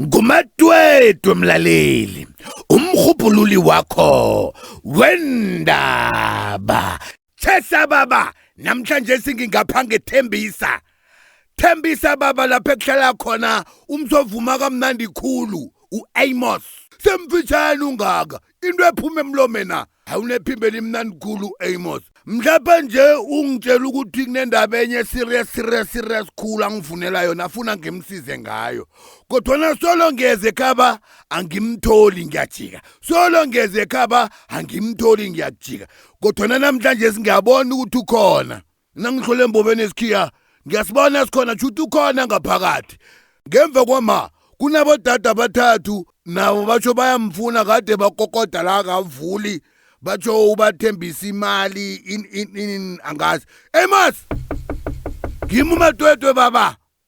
ngumatwetwe mlaleli umrhubhululi wakho wendaba thesa baba namhlanje singingapha ngethembisa thembisa baba lapho ekuhlala khona umsovuma kamnandi khulu u-amos semfitshane ungaka into ephuma emlomena awunephimbo elimnandi khulu amos mhlapha nje ungitshela ukuthi kunendaba enye serious serious serious khulu angifunela yona afuna ngimsize ngayo kodwana solo ngeze ekhaba angimtholi ngiyajika solo ngeze ekhaba angimtholi ngiyakujika kodwana namhlanje singabona ukuthi ukhona nangihlole embobeni esikhiya ngiyasibona esikhona shuthi ukhona ngaphakathi ngemva kwama kunabodade abathathu nabo batsho bayamfuna kade bakokoda la kavuli batsho ubathembisa imali in in in angazi emas ngima umatwetwe baba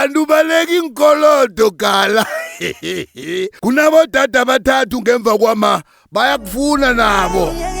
kanti ubaleka iinkolodo gala kunabodada abathathu ngemva kwama bayakufuna nabo yeah.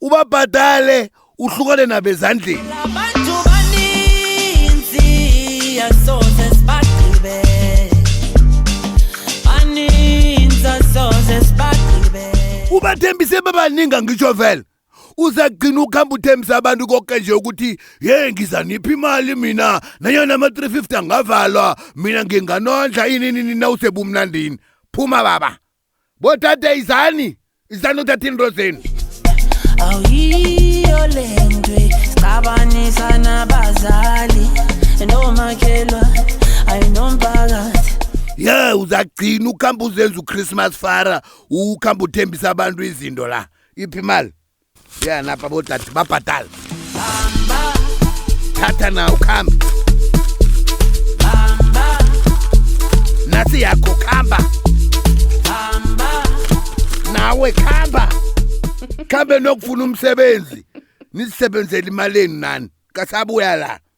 ubabhadale uhlukane nabezandleni abantu baninzi asoze sibagqibe baninzi asoze sibagqibe ubathembise babaningi angitsho vele uzagcina ukuhamba uthembisa abantu konke nje ukuthi ye ngiza niphi imali mina nanyona ama-350 angavalwa mina nginganondla ini nini nawusebumnandini phuma baba bodade izani izani uthatha into zenu awuyiyo le nto ixabanisa nabazali nomakhelwa ayinomphakathi ye uzagcina ukuhamba uzenza uchristmas fara ukuhamba uthembisa abantu izinto la iphi imali ya napa botati babhadala thatha na ukhambe nasi yakho khamba nawe khamba khambe nokufuna umsebenzi nisebenzele imaleni nani kasabuya la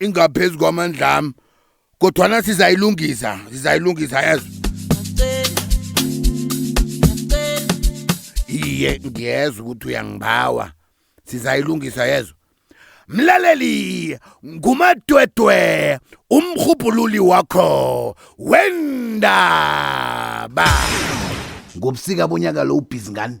ingaphezu kwamandlami kodwana sizayilungisa sizayilungisa yazi iye ngiyezwa ukuthi uyangibawa sizayilungisa yezwa mlaleli ngumadwedwe umrhubhululi wakho wendaba ngobusika bonyaka lo ubhizi ngani